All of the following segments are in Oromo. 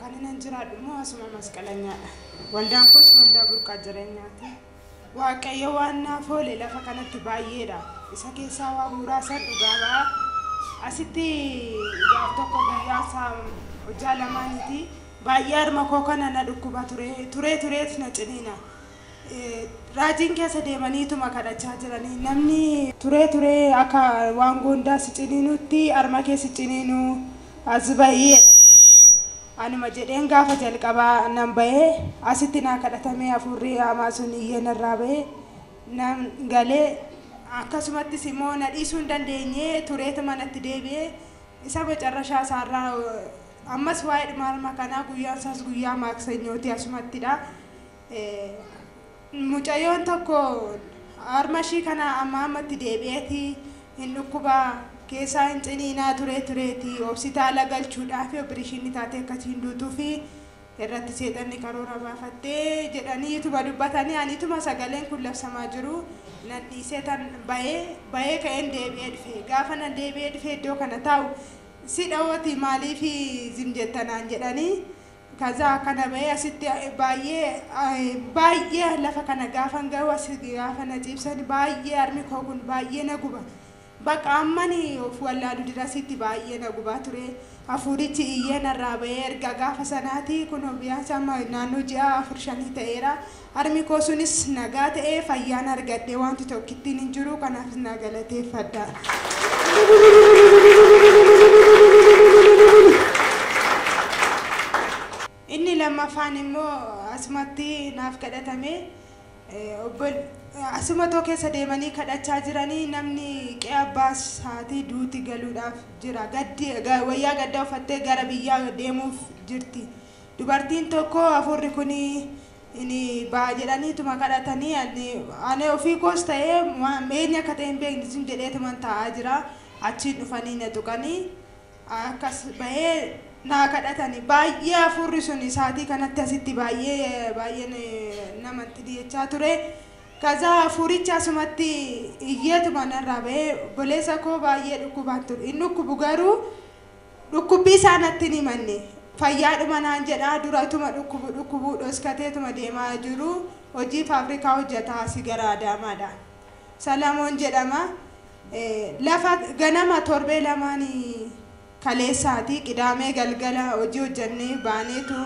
Kan inni jiraadhu immoo asuma masqalanyaadha. Waldaan koos waldaa burqaa jireenyaati. Waaqayyo waan naaf oole lafa kanatti baay'eedha. Isa keessaa waa muraasan dhugaa ba'a. Asitti gaaf tokko guyyaa isaa hojjaa lamaaniiti. Baay'ee harma koo kana na dhukkuba ture. Turee turees na ciniina. Raajiin keessa deemaniituma kadhachaa jiranii namni. turee turee akka waan goondaa si ciniinuutti arma kee si ciniinuu as bahi jedhanii anuma jedheen gaafa jalqabaa nan bahe asitti naa kadhatamee hafuurri haamaa sun iyyee narraa bahe nan gale akkasumattis immoo na dhiisuu hin dandeenye tureetuma natti deebi'e isa macarrashaa isaarraa ammas waa'eedhuma arma kanaa guyyaan isaas guyyaa maaksanyooti asumattidha. Mucayyoon tokko harma ishii kana ammaa ammatti deebi'eeti hin dhukkubaa keessaa hin ciniinaa turee tureeti hospitaala galchuudhaafi opereeshinii taatee akkasii hin duutuufi irratti seexanni karoora baafattee jedhanii ituma dubbatanii ani ituma sagaleen kun labsamaa jiru nan dhiisee tan bayee bayee ka'een deebi'ee dhufe gaafa nan deebi'ee dhufe iddoo kana taa'u si dhawooti maaliifi zim jettanaan jedhanii Kazaa akkana ba'ee asitti baay'ee baay'ee lafa kana gaafan ga'u as gaafa na ciibsan baay'ee harmi koo kun baay'ee na guba. Bakka ammani of wallaalu dirasitti baay'ee na gubaa ture. Hafuurichi iyyee narraa ba'ee erga gaafa sanaatii kun biyaansa amma naannoo ji'a afur shanii ta'eera. Harmi koo sunis nagaa ta'ee fayyaan argadhe waanti tokkittiin hin jiru kanaafis naa galateeffadha. Inni lammaffaan immoo asumatti naaf kadhatame obbol asuma too keessa deemanii kadhachaa jiranii namni qe'ee abbaa isaatii duuti galuudhaaf jira gaddi ga- wayyaa gaddaa uffattee gara biyyaa deemuuf jirti dubartiin tokko hafuurri kun ini ba'a jedhaniituma kadhatanii ani ani ofii koos ta'ee waan eenyu akka ta'e hin beekne jim jedheetuman taa'aa jira achiin dhufanii na tuqanii akkas bahee naa kadhatani baay'ee hafuurri sun isaatii kanatti asitti baay'ee baay'een nama itti jechaa ture kazaa hafuuricha asumatti iyyeetuma narraa bahee boleessa koo baay'ee dhukkubaan ture hin dhukkubu garuu Dhukkubbii isaa natti hin himanne. Fayyaadhuma naan jedha, dura utuma dhukkubu dhukkubuu dhoskateetuma deemaa jiru hojii faabrikaa hojjata asi gara Adaamaadha. Salamoon jedhama. Lafa ganama torbee lamaan kaleessaati qidaamee galgala hojii hojjannee baaneetu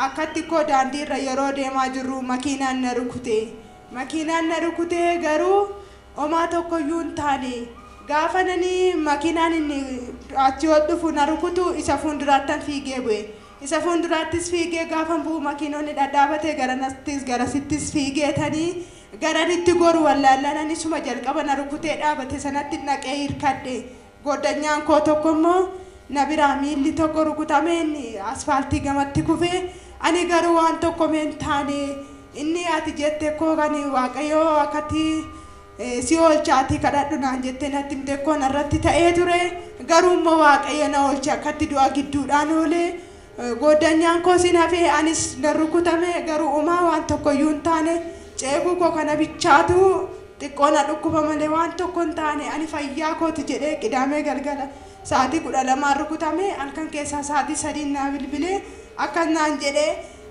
akkatti koo daandiirra yeroo deemaa jirru makiinaan na rukute. Makiinaan na rukutee garuu Omaa tokko iyyuu hin taane. Gaafan ani makiinaan inni achii ol dhufu na rukutu isa fuunduraattan fiigee bu'e. Isa fuunduraattis fiigee gaafan bu'u makiinonni dhadhaabate garanattis garasittis fiigeetani garan itti goru wallaallaan anis isuma jalqaba na rukutee dhaabate sanatti dhaqee hirkadhe. Goodanyaan koo tokko immoo na biraa miilli tokko rukutamee inni asfaaltii gamatti kufe, ani garuu waan tokkome hin taane. Inni ati jette koo kan Waaqayyoo akkatti si oolcha ati kadhadhu naan jettee natti himte koo narratti ta'ee ture. Garuu immoo Waaqayyo na oolche akkatti du'a gidduudhaan oole. Goodanyaan koos in hafe, anis nan rukutame, garuu omaa waan tokko iyyuu hin taane, ceekuu koo kana bichaatu xiqqoo na dhukkuba malee waan tokko hin taane, ani fayyaa koo ti jedhee Qidaamee galgala sa'aatii 12n rukutame, halkan keessaa sa'aatii 3n naa bilbilee akkas naan jedhe,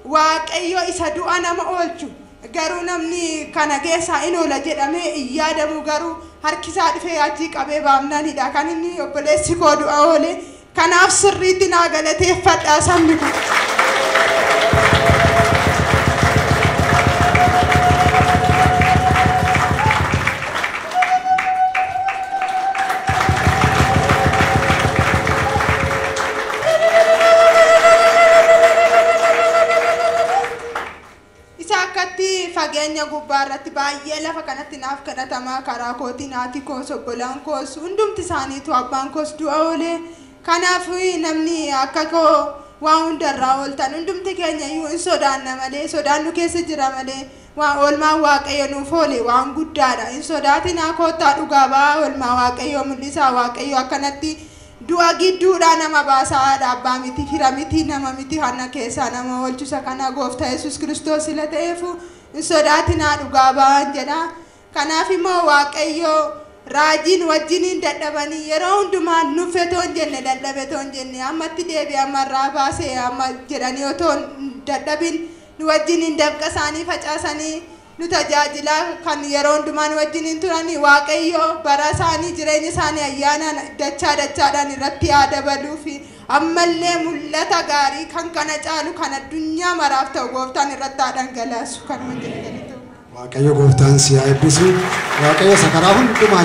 Waaqayyo isa du'a nama oolchu, garuu namni kana keessaa in oola jedhamee hin yaadamu, garuu harki isaa dhufee achii qabee baafnaan hidhaa kan inni obboleessi koo du'a oole, Kanaaf sirriitti naa galateeffadhaa sabni kun. Isa akkatti fageenya gubbaa irratti baay'ee lafa kanatti naaf kadhatama, karaa kootiin haati koos, obbolaan koos, hundumti isaaniituu, abbaan koos du'a oole. Kanaaf namni akka koo waan hunda irraa ooltan hundumti keenya iyyuu in sodaanna malee, sodaan nu keessa jira malee, waan oolmaan Waaqayyo nuuf oole waan guddaa dha. Hin sodaatinaa, koottaa dhugaa ba'aa, oolmaa Waaqayyoo mul'isaa, Waaqayyo akkanatti Du'a gidduudhaa nama baasa haadha abbaa miti fira miti nama miti hanna keessaa nama oolchu isa kana gooftaa yesuus kiristoos sila ta'eefu hin sodaatinaa dhugaa ba'aan jedha kanaaf immoo waaqayyoo raajiin wajjiniin dadhabanii yeroo hundumaa nuffetoon jenne dadhabetoon jenne ammatti deebi amma irraa baase amma jedhanii otoo hin dadhabin nu wajjiniin dafqa isaanii facaasanii nu tajaajila kan yeroo hundumaa nu wajjiniin turani waaqayyo bara isaanii jireenya isaanii ayyaanaan dachaa dachaadhaan irratti haa dabaluufi ammallee mul'ata gaarii kan kana caalu kan addunyaa maraaf ta'u gooftaan irratti haa dhangalaasu kan hundee galatu. Waaqayyo gooftaan si haa eebbisu. Waaqayyo isa karaa hundumaa